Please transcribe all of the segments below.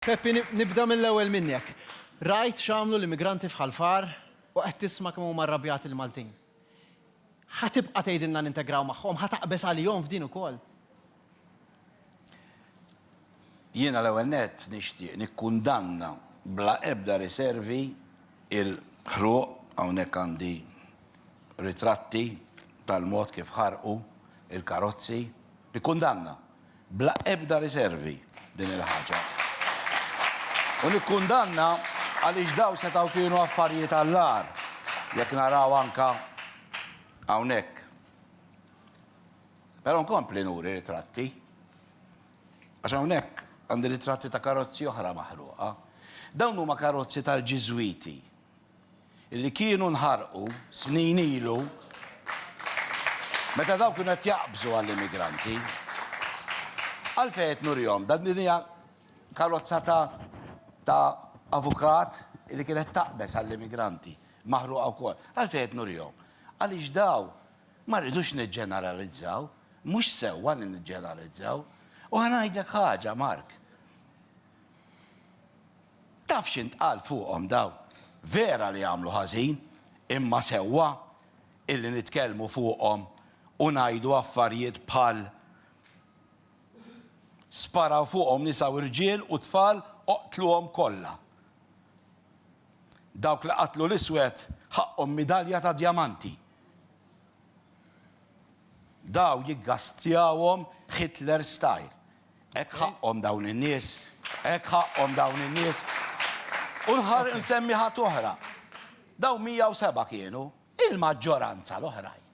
Peppi, nibda mill-ewwel minnek. Rajt x'għamlu l-immigranti f'Ħal Far u qed tisma' kemm huma rrabjati l-Maltin. Ħa tibqa' tgħidilna nintegraw magħhom? Ħa taqbeż għalihom f'din ukoll? Jiena l-ewwel nett nixtieq nikkundanna bla ebda riservi l-ħruq, hawnhekk għandi ritratti tal-mod kif ħarqu l-karozzi, nikkundanna. Bla ebda riservi din il-ħaġa. U nikkundanna għaliex dawn setgħu kienu affarijiet għall-agħar, jekk naraw anke hawnhekk. Però nkompli nuri ritratti. Għax hawnhekk għandi ritratti ta' karozzi oħra maħruqa. Dawn huma karozzi tal-Ġiżwiti li kienu nħarqu snin ilu meta dawk kienu qed jaqbżu għall-immigranti. Għalfejn qed nurihom dan din hija karozza ta' ta' avukat li kienet taqbeż għall-immigranti, maħruqa wkoll. Għalfejn qed nurihom? Għaliex dawn ma rridux niġġeneralizzaw, mhux sewwa li niġġeneralizzaw. U ħa ngħidlek ħaġa, Mark. Taf x'intqal fuqhom dawn? Vera li għamlu ħażin, imma sewwa illi nitkellmu fuqhom u ngħidu affarijiet bħal Sparaw fuqhom nisa u rġiel u tfal oqtluhom kollha. Dawk li qatlu l-iswed ħaqqhom midalja ta' djamanti. Daw jiggastjawhom Hitler style. Hekk ħaqqhom dawn in-nies, hekk ħaqqhom dawn in-nies. U nħarr insemmi ħadd oħra. Dawn 107 kienu, il-maġġoranza l-oħrajn.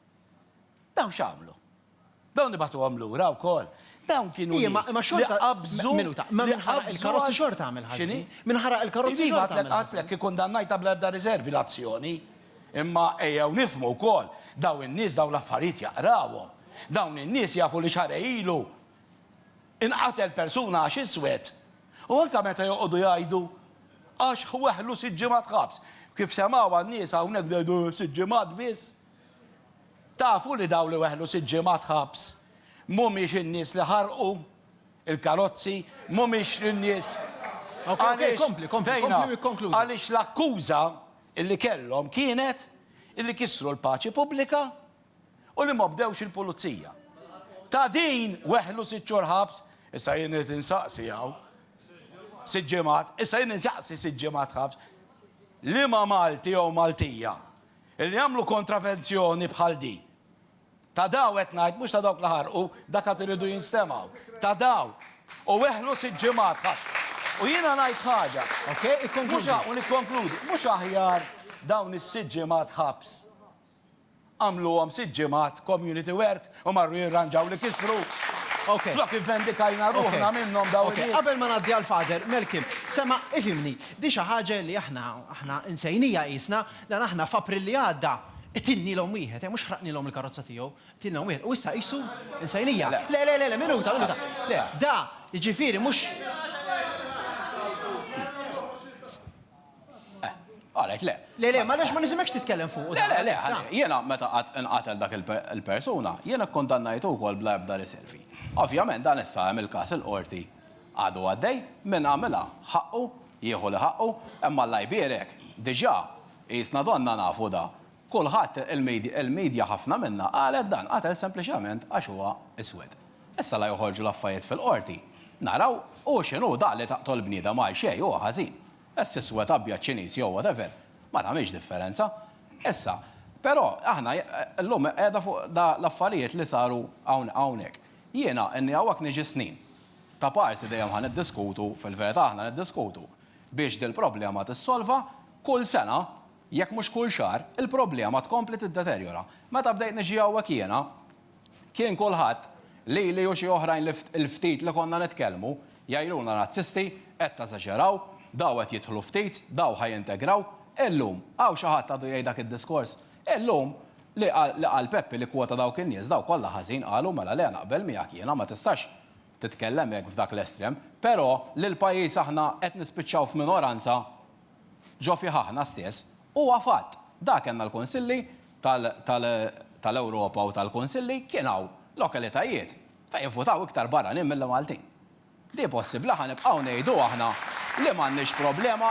Dawn x'għamlu? Dawn nibagħtuhom lura wkoll. Dawn kienu Iva, ma xorta qabżu. Minuta, ma min ħaraq il-karozzi xorta għamel ħaġa. X'inhi? Min ħaraq il-karozzi xorta għamel. Iva, għatlek ikkundannajta bla ebda riservi l-azzjoni. Imma ejjew nifhmu wkoll, dawn in-nies dawn l-affarijiet jaqrawhom. Dawn in-nies jafu li xarej ilu inqatel persuna għax iswed, u anke meta joqogħdu jgħidu għax weħlu sitt ġimgħat ħabs, kif semgħuha n-nies hawnhekk bdew jgħidu sitt ġimgħat biss? Tafu li dawn li weħlu sitt ġimgħat ħabs mhumiex in-nies li ħarqu l-karozzi, mhumiex in-nies għaliex vejna, għaliex l-akkuża li kellhom kienet li kisru l-paċi pubblika, u li ma bdewx il-pulizija. Ta' din weħlu sitt xhur ħabs, issa jien irid insaqsi hawn, sitt ġimgħat, issa jien insaqsi sitt ġimgħat ħabs, liema Malti jew Maltija li jagħmlu kontravenzjoni bħal din? Ta' daw qed ngħid, mhux ta' dawk li ħarqu, dak għad iridu jinstemgħu. Ta' daw. U weħlu sitt ġimgħat ħabs. U jiena ngħid ħaġa, mhux u nikkonkludi, mhux aħjar dawn is-sitt ġimgħat ħabs Għamluhom sitt ġimgħat community work u marru jirranġaw li kisru. Flok ivvendikajna ruħna minnhom dawn in-nies. Qabel ma ngħaddi għal Father Malcolm, sema' ifhimni, di xi ħaġa li aħna aħna nsejnija qisna, dan aħna f'April li għadda qtilnielhom wieħed, eh, mhux ħraqnielhom il-karozza tiegħu, qtilnilhom wieħed u issa qisu nsejnija. Le, le, le, minuta, minuta. Le, da, jiġifieri mhux. Qalet le. Le, le, m'għaliex ma nisimgħekx titkellem fuqu dan. Le, le, le, ħalli, jiena meta nqatel dak il-persuna, jiena kkundannajtu wkoll bla ebda riservi. Ovvjament dan issa hemm il-każ il-Qorti għadu għaddej, min għamilha ħaqqu jieħu li ħaqqu, imma Alla jbierek, diġà, qisna donnha nafu da. Kulħadd, il-media ħafna minnha qalet dan, qatel sempliċement għax huwa iswed. Issa la joħorġu l-affajiet fil-Qorti, naraw, hu x'inhu dak li taqtol bniedem għal xejn huwa ħażin. Ess iswed, abjad, Ċiniż jew whatever, ma tagħmilx differenza. Issa, però, aħna llum qiegħda fuq da l-affarijiet li saru hawnhekk. Jiena inni hawnhekk niġi snin. Ta' parsi dejjem ħa niddiskutu, fil-verità aħna niddiskutu biex dil-problema tissolva, kull sena Jekk mhux kull xahar, il-problema tkompli tiddeterjora. Meta bdejt niġi hawnhekk jiena, kien kulħadd, lili u xi oħrajn li il-ftit li konna nitkellmu, jgħidulna razzisti, qed teżaġeraw, daw qed jidħlu ftit, daw ħa jintegraw. Illum, hawn xi ħadd għadu jgħid dak id-diskors? Illum, li qal Peppi li kkwota dawk in-nies, daw kollha ħażin qalu, mela le naqbel miegħek jiena, ma tistax titkellem hekk f'dak l-estrem. Però li l-pajjiż aħna qed nispiċċaw f'minoranza Ġo fih aħna stess, huwa fatt. Dak kellna l-Kunsilli tal-Ewropa u tal-Kunsilli, kien hawn lokalitajiet fejn ivvutaw iktar barranin milli Maltin. Di possibbli ħa nibqgħu ngħidu aħna li m'għandniex problema?